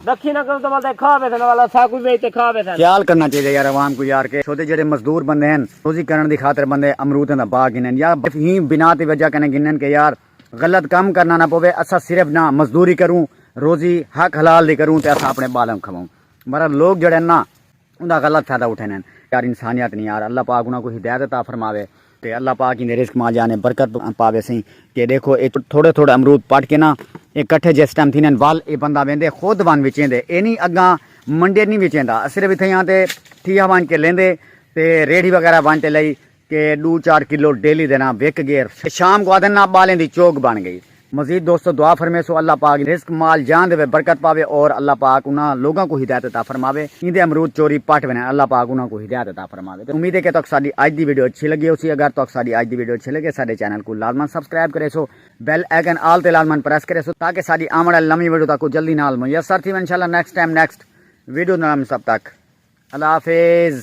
رکھی نہ کرو تو بل تے کھا بیسن والا سا کوئی بیچ تے کھا بیسن۔ خیال کرنا چاہیدا یار عوام کوں یار کہ سودھے جیڑھے مزدور بندے ہن روزی کرݨ دی خاطر بندے امروداں دا باغ گھنن یا بس ایں بنا تے وجہ کنے گھنن کہ یار غلط کم کرنا نہ پووے اساں صرف نہ مزدوری کروں روزی حق حلال دی کروں تے اساں اپݨے ٻالاں کوں کھاووں مگر لوک جیڑھے ہن نہ اوندا غلط فائدہ اٹھیندے ہن۔ یار انسانیت نی یار اللہ پاک انہاں کوں ہدایت عطا فرماوے۔ تے اللہ پاک ایندے رزق مال جان ءچ برکت پاوے سئیں کہ ڈیکھو اے تھوڑے تھوڑے امرود پٹ کے نا اے کٹھے جس ٹائم تھیندے ہن ول اے بندہ ویندے خود ونج وچیندے اے نی اگاں منڈے نی وچیندا صرف اتھیاں تے تھیا ونج کے لیندے تے ریڑھی وغیرہ ونج تے لئی کہ ڈو چار کلو ڈیلی دے ناں وک گیر تے شام کو آدھن ناں بالیں دی چوگ بن گئی۔ مزید دوستو دعا فرمیسو اللہ پاک رزق مال جان دے وچ برکت پاوے اور اللہ پاک انہاں لوگاں کوں ہدایت عطا فرماوے ایندے امرود چوری پٹ ونجن اللہ پاک انہاں کوں ہدایت عطا فرماوے تے امید ہے کہ تہاکوں ساڈی اج دی ویڈیو اچھی لگی ہوسی اگر تہاکوں ساڈی اج دی ویڈیو اچھی لگے ساڈے چینل کوں لازما سبسکرائب کریسو بیل آئیکن آل تے لازما پریس کریسو تاکہ ساڈی آوݨ آلی نویں ویڈیو تہاکوں جلدی نال میسر تھیون انشاءاللہ نیکسٹ ٹائم نیکسٹ ویڈیو نال ملساں تب تک اللہ حافظ۔